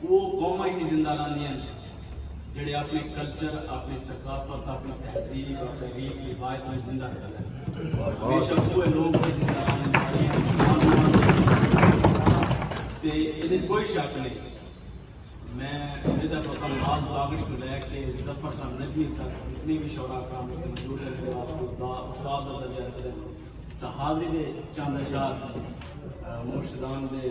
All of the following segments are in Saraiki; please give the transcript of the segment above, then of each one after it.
او قوماں ہی زندہ رہندیاں ہن جیہڑے اپݨے کلچر، اپݨی ثقافت، اپݨی تہذیب، اپݨے ریت روایت کوں زندہ رکھدے ہن۔ بے شک اوہے لوک ہن جنہاں دا آنڑ ساریاں تے ایندے وچ کوئی شک نئیں۔ میں امیدہ سوکھا نواز باغڑی توں لے کے ظفر شاہ نجمی تک جتنے وی شعراء کرام اتھے موجود ہن جیہڑے واسطے دا استاد دا درجہ رکھدے ہن تاں حاضری دے چند اشعار مرشدان دے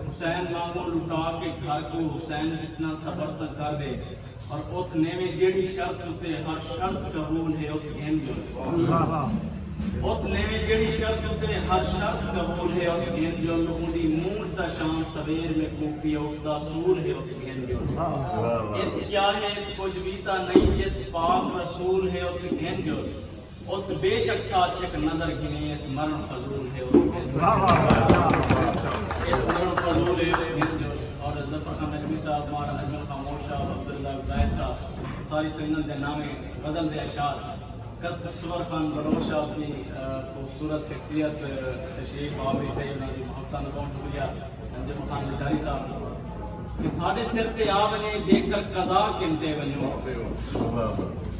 حسین مانگوں لٹا کے گھر کوں حسین جتنا صبر تاں کر ڈے اور اتھ نیویں جیڑھی شرط اتے ہر شرط قبول ہے اتھ گھن جو اتھ نیویں جیڑھی شرط اتے ہر شرط قبول ہے اتھ گھن جو اندی مونٹ دا شام سویر میں کوپی اوت دا سور ہے اتھ گھن جو اتھ کیا ہے اتھ کچھ بھی تا نہیں جت پاک رسول ہے اتھ گھن جو ات بے شک ساتھ شک نظر گھنے ات مرن فضول ہے ات مرن فضول ہے اور ظفر خان نجمی صاحب مارا نجم خاموش صاحب عبداللہ زاہد صاحب ساری سنگل دے نامے غزل دے اشار کس سور خان بلوچ صاحب کی خوبصورت شخصیت تشریف آوی تھے انہاں دی محبتاں دا بہت شکریہ نجم خان بشاری صاحب کہ سارے سر تے آ ونے جے کر قضا کنتے ونو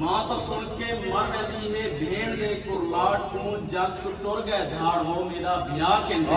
ماء تاں سݨ کے مر ویندی ہے بھیݨ دے کرلاٹ کوں جگ توں ٹر ڳئے دھاڑ ہو میݙا بھیا کینجھے۔